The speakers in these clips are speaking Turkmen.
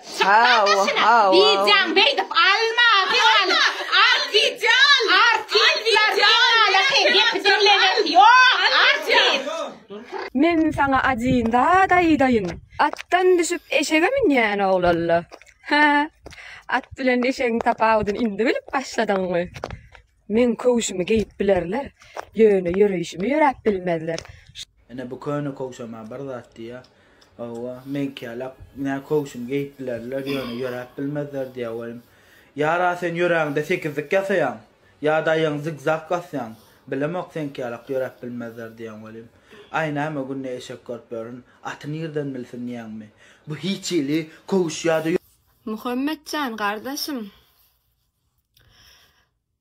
Çykma dyşyna wideoň beýdip alma alma al wideo al artistler diňala sen gepi diňlemesi ýok artist. Men saňa ajyn zat aýdaýyn atdan düşüp eşege münýän oglalla hä at bilen eşegiň tapawudyny indi bilip başladyňmy. Meň köwşümi geýip bilerler, ýöne ýöreýşimi ýöräp bilmezler. Ine bu köne köwşem-ä bir zat diýýä. Hawa, meňkiälek nä köwşümi geýip bilerler, ýöne ýöräp bilmezler diýýä welin. Ýar-a sen ýöräňde sekizlik ýasaýaň, ýa-da aýagyňy zig-zag basýaň, bilemok seňkiälek ýöräp bilmezler diýýäň welin. Aý näme günde eşek görüp ýörün, aty nirden bilsin diýýäňmi? Bu hiç hili köwüş ýa-da. Muhammet jan gardaşym.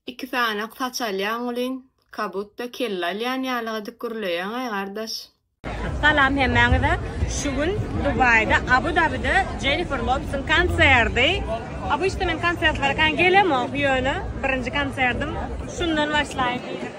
Iki sanak saç alýaň welin, kabutda kelle alýan ýaly edip gürleýäňaý gardaş. Salam hemmäňize. Şu gün Dubaýda Abu Dabide Jennifer Lopesiň konserdi. Obычny men konsertlere kän gelemok ýöne birinji konsertim şundan başlaýyn diýdim.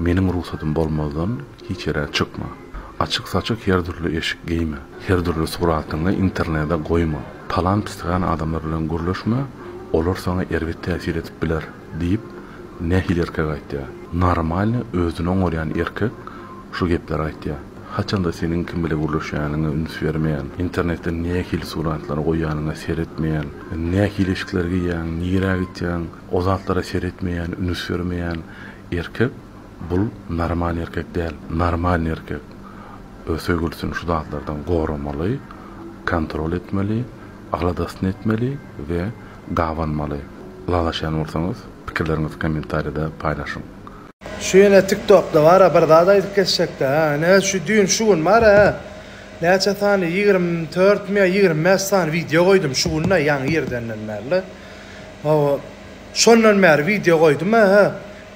Meniň rugsadym bolmazdan hiç ýere çykma. Açyk-saçyk her dürli eşik geýme. Her dürli suratyňy internede goýma. Talan pisligän adamlar bilen gürleşme, olar saňa erbet täsir edip biler, diýip, nähili erkek aýtýar? Normalny özüni oňarýan erkek şu gepleri aýtýar. Haçanda seniň kim bile gürleşýäniňe üns bermeýän, internetde nähili suratlary goýýanyňa seretmeýän, nähili eşikler geýýäň, nirä gitýäň, o zatlara seretmeýän, ünüs bermeýän erkek bul normal erkek däl. Normalny erkek öz söýgülisini şu zatlardan goramaly, kontrol etmeli, aladasyny etmeli we gabanmaly. Ylalaşýan bolsaňyz pikirleriňizi kommentariýada paýlaşyň. Şu ýene tiktokda bara bir zat aýdyp geçjekdi hä ine şu düýn şu gün bara hä näçe sany ýigrimi dört mi ýa ýigrimi bäş sany wideo goýdum şu gün da ýaňy irdenden bärli hawa şondan bäri wideo goýdum hä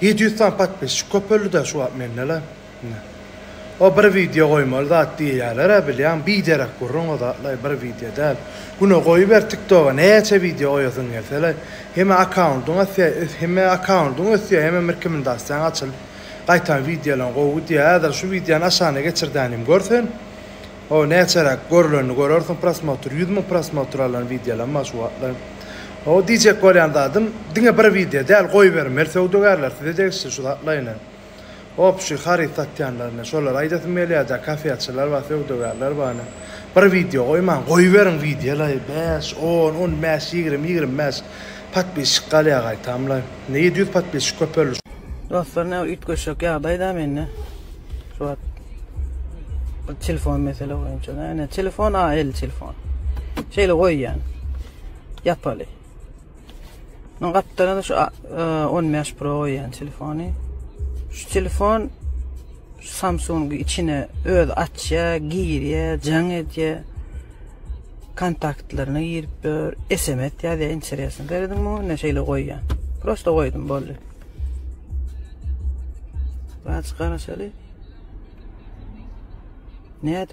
ýedi ýüz sany podpisçik köpeldi da şu wagt mendela ine. O bir wideo goýmaly zat diýýälerä bilýäň biderek gürrüň o zatlaý bir wideo däl güne goýuber tiktoga näçe wideo goýasyň gelselaý heme akkaundyň ösýär heme akkaundyň ösýär hemem rkmndasiýaň açylyp gaýtam wideolaň gowy gidýär häzir şu wideony aşagyna geçirdänim gör sen o näçeräk görlenini görersiň prosmotr ýüz müň prosmotr alan wideolam bar şu wagtlaý o diýjek bolýan zadym diňe bir wideo däl goýbermeli söwdagärler size degişli şu zatlaýyny. Opşuý haryt satýanlaryna şolara aýdasym gelýärda kafeçiler bar söwdagärler bar ine bir wideo goýmaň goýberiň wideolary bäş on on bäş ýigrimi ýigrimi bäş podpisçik galýa gaýtamlaý ine ýedi ýüz podpisçik köpeldi şu Dostlar ne üýtgeşek ýagdaý da mende şu wagt bir telefon mesele boýunça da ine telefon a el telefon şeýle goýýan ýapaly. Men gapdalda şu 15 e, Pro goýýan telefony. Şu telefon Samsung içine öz açýa, girýä, jaň edýä. Kontaktlaryna girip dur, SMS ýazýa, interesni berdim bu, ne şeýle goýýan. Prosta goýdum boldy. Baş garaşaly. Ne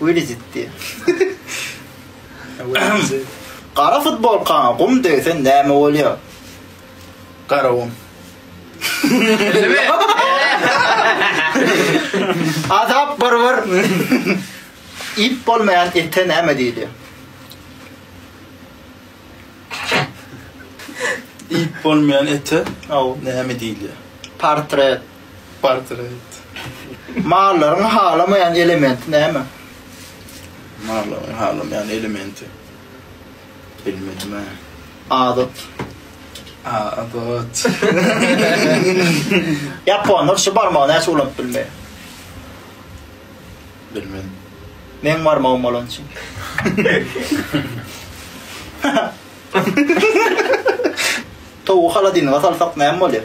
Welizitdi. Gara futbolkaňa gum degse näme bolýar? Gara gum. Azap barbar. Ip bolmaýan ete näme diýilýär? Ip bolmaýan ete näme diýilýär? Portret. Portret. Mallaryň halamaýan elementi näme? Mallaryň halamaýan elementi. Bilmedim-ä. Adat. Adat. Ýaponlar şu barmagy näçe ulanyp bilmeýär? Bilmedim. Meň barmagym bolan üçin. Towugy holodilnige salsak näme bolýar?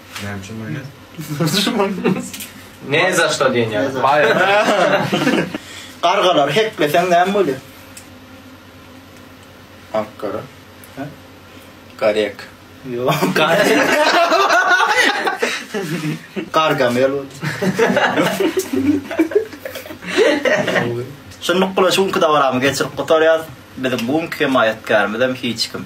Nämçe maýonez? Ne za şto diýen ýaly. Baýrak. Gargalary hekleseň näme bolýar? Ak gara. Hä? Garek. Ýok. Gargamel bol. Şunluk bilen şu günki dabaramy geçirip gutarýarys. Biziň bu günki hemaýatkärimiz hem hiç kim.